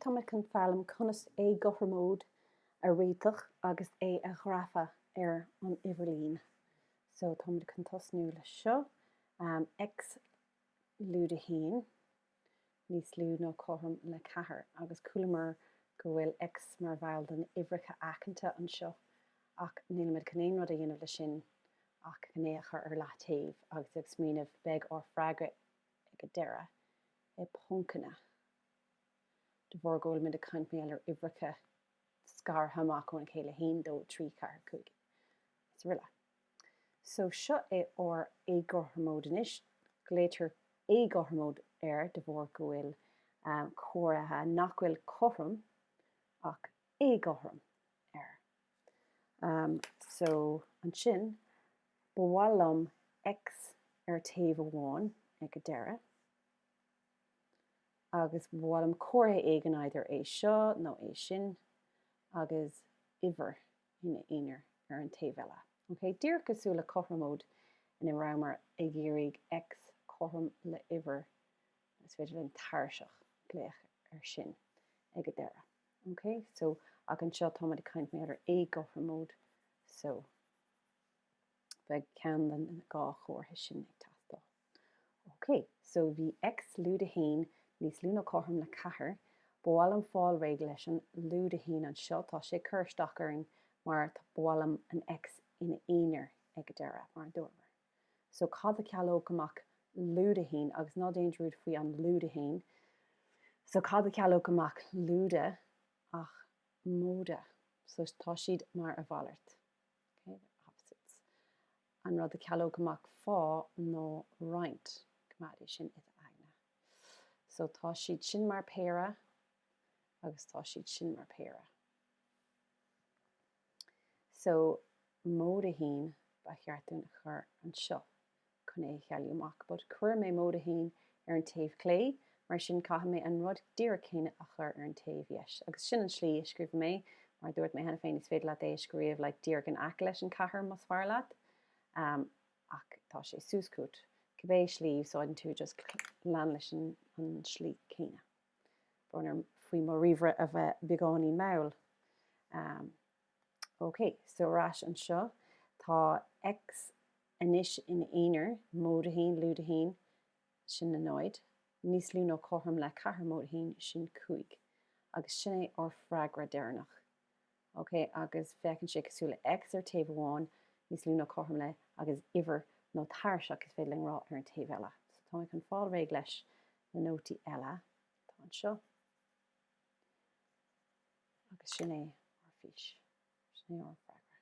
Táimid chun foghlaim conas éagothroimóid a réiteach agus é a ghrafadh ar an uimhirlíne. So táimid chun tosnú le seo, x lúide a haon níos lú nó cothrom le ceathair agus chualamar go bhfuil x mar bhall de na uimhreacha aiceanta anseo ach nílimid chun aon rud a dhéanamh le sin ach chun é a chur ar leath-taobh agus ag smaoineamh beidh ár freagra ag a deireadh i poncanna. de bharr go bhfuilimid ag caint mar gheall ar uimhreacha scartha amach óna chéile, 1, 2, 3, 4, 5, is aroile. So seo é ár éagothromóid anois, glaoitear éagothromóid air de bharr go bhfuil comhartha nach bhfuil cothrom ach éagothrom air. So ansin ba mhaith liom X ar taobh amháin ag an deireadh, agus ba mhaith liom comhartha éigin either é seo nó é sin agus uimhir ina aonar ar an taobh eile. Ok, díreach cosúil le cothromóid ina rabhamar ag iarraidh X cothrom le uimhir, is féidir linn tairiseach a glaoch ar sin ag a deireadh. Ok, so ach anseo táimid ag caint mar gheall ar éagothromóid, so beidh ceann den dhá chomhartha sin ag teastáil. OK, so bhí X lúide a haon níos lú nó cothrom le ceathair, ba mhaith liom fáil réidh leis an lúide a haon anseo, tá sé ag cur isteach orainn mar ba mhaith liom an X ina aonar ag an deireadh mar a dúramar. So cad a chealódh amach lúide a haon agus ná déan dearmad faoi an lúide a haon, so cad a chealódh amach lúide ach móide, so tá siad mar a mhalairt. opposites. An rud a chealódh amach fá ná roinnt coimeád é sin i d'aigne. So tá siad sin mar péire agus tá siad sin mar péire. So móide a haon ba cheart dúinn a chur anseo. chun é a chealú amach but chuir mé móide 1 ar an taobh clé mar sin caithfidh mé an rud díreach céanna a chur ar an taobh dheis agus sin an tslí a scríobhaim é mar a dúirt mé cheana féin is féidir leat é a scríobh like díreach in aice leis an ceathair más fearr leat um ach tá sé suas chugat cibé slí a úsáideann tú just lean leis an tslí céanna brón orm faoi mo ríomhaire a bheith beagáinín mall um OK, so ar ais anseo. Tá X anois ina aonar, móide a haon, lúide a haon, sin a náid, níos lú nó cothrom le ceathair móide a haon, sin cúig. Agus sin é ár bhfreagra deireanach. OK, agus féachann sé cosúil le X ar taobh amháin, níos lú nó cothrom le, agus uimhir nó tairiseach is féidir linn a rá ar an taobh eile. So tá mé chun fáil réidh leis na nótaí eile atá anseo. Agus sin é ár bhfís, sin é ár bhfreagra.